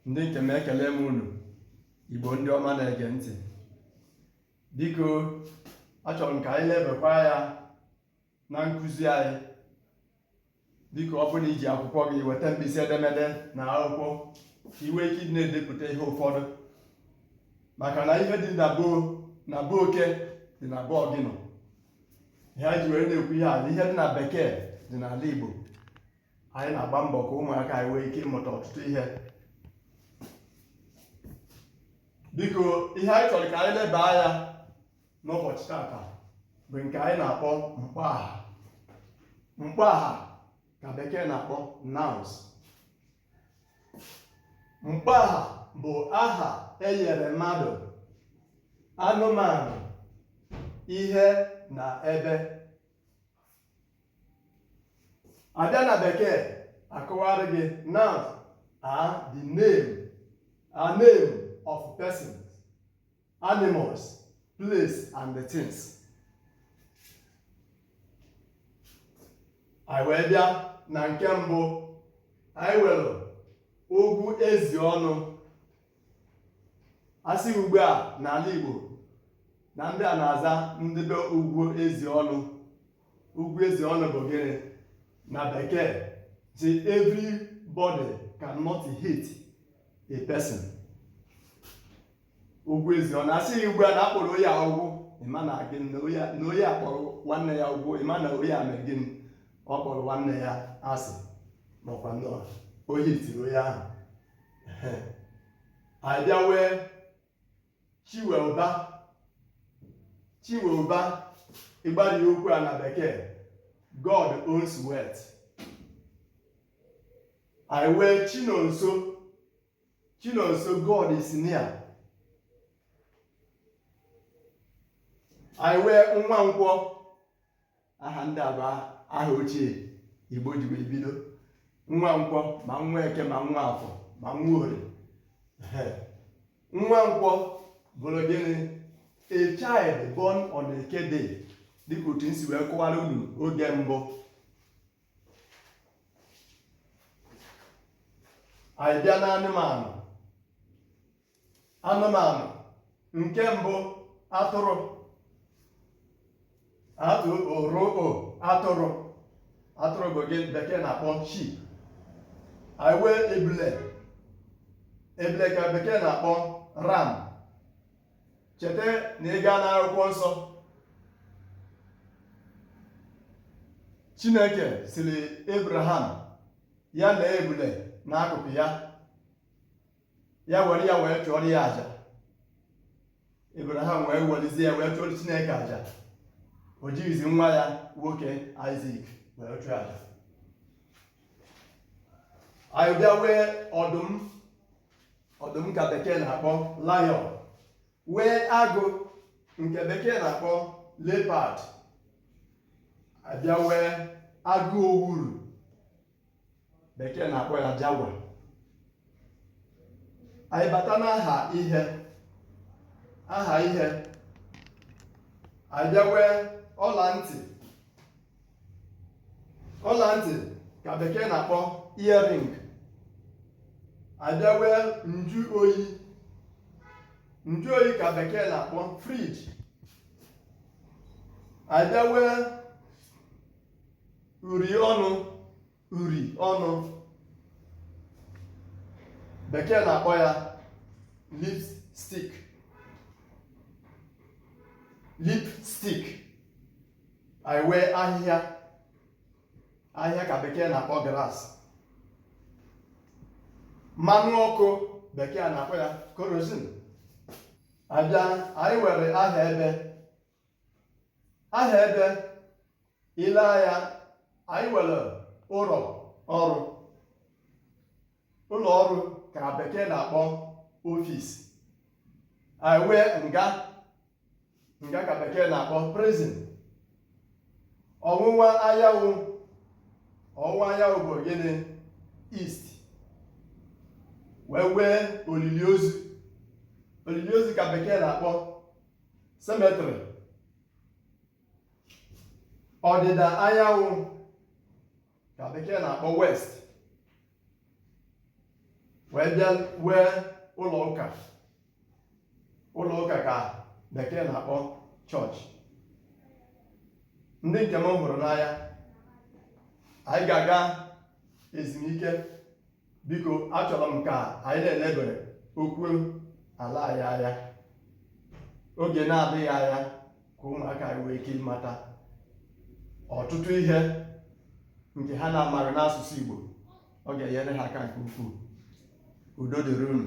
ndị nke m ekele m unu igbo ndị ọma na-ege ntị biko achọrọ m ka anyị lebakwa anya na nkụzi anyị biko ọ bụrụ na i ji akwụkwọ gị weta mkpịsị edemede na akwụkwọ ka i nwee ike ịdị na-edepụta ihe ụfọdụ maka na ihe dị na be oke dị na be ọgịnị ihe anyị ji were na-ekwu ihe a na ihe dị na bekee dị n'ala igbo anyị na-agba mbọ ka ụmụaka anyị nwee ike ịmụta ọtụtụ ihe biko ihe anyị chọrọ ka anyị leba anya n'ụbọchị tata bụ nke anyị na-akpọ mkpọaha mkpọaha ka bekee na-akpọ nouns mkpọaha bụ aha enyere mmadụ anụmanụ ihe na ebe abịa na bekee akọwara gị nouns are the name of persons animals place and the things anyị wee bịa na nke mbụ anyị nwere ugwu ezi ọnụ asị ugbu a n'ala Igbo na ndị a na-aza ndị be ugwu ezi ọnụ ugwu ezi ọnụ bụ gịnị na bekee sị everybody cannot hate a person ugwu ezi ọnụ asị ugbu a na akpọrọ onye a ugwu ịma na gị na onye a kpọrọ nwanne ya ugwu ịma na onye a mere gịnị ọ kpọrọ nwanne ya asị makwa na o hetiri onye ahụ a bịa nwee chinweụba chinweụba ịgbari okwu a na bekee god owns wealth anyị nwee chinonso chinonso god is near anyị nwee nwankwọ aha ndị a bụ aha ochie igbo ji wee bido nwankwọ ma nweke ma nwafọ ma nworie nwankwọ bụrụ gịnị a child born on eke day dịka otu m si wee kọwara unu oge mbụ anyị bịa n'anụmanụ anụmanụ nke mbụ atụrụ atụrụ atụrụ atụrụ bụ nke bekee na-akpọ sheep anyị nwee ebule ebule ka bekee na-akpọ ram cheta na ị gaa n'akwụkwọ nsọ chineke sịrị abraham ya lee ebule n'akụkụ ya ya were ya wee chụọrọ ya aja Abraham wee welizie ya wee chụọrọ Chineke aja o jighịzi nwa ya nwoke Isaac wee chụọ aja anyị bịa nwee ọdụm ọdụm ka bekee na-akpọ lion nwee agụ nke bekee na-akpọ leopard a bịa nwee agụ owuru bekee na-akpọ ya jaguar anyị bata n'aha ihe aha ihe anyị bịa nwee ọla ntị ọla ntị ka bekee na-akpọ earring anyị bịa nwee njụ oyi njụ oyi ka bekee na-akpọ fridge anyị bịa nwee uri ọnụ uri ọnụ bekee na-akpọ ya lipstick lipstick anyị nwee ahịhịa ahịhịa ka bekee na-akpọ grass mmanụ ọkụ bekee na-akpọ ya kerosene a bịa anyị nwere aha ebe aha ebe i lee anya anyị nwere ụlọ ọrụ ụlọ ọrụ ka bekee na-akpọ office anyị nwee nga nga ka bekee na-akpọ prison ọwụwa anyanwụ ọwụwa anyanwụ bụ gịnị east wee nwee olili ozu olili ozu ka bekee na-akpọ cemetery ọdịda anyanwụ ka bekee na-akpọ west wee bịa nwee ụlọ ụka ụlọ ụka ka bekee na-akpọ chọọchị ndị nke m hụrụ n'anya anyị ga-aga ezumike biko achọrọ m ka anyị na-elebere okwu ala anyị anya oge na-adịghị anya ka ụmụaka anyị nwee ike ịmata ọtụtụ ihe nke ha na-amaghị n'asụsụ Igbo ọ ga-enyere ha aka nke ukwuu udo dịrị unu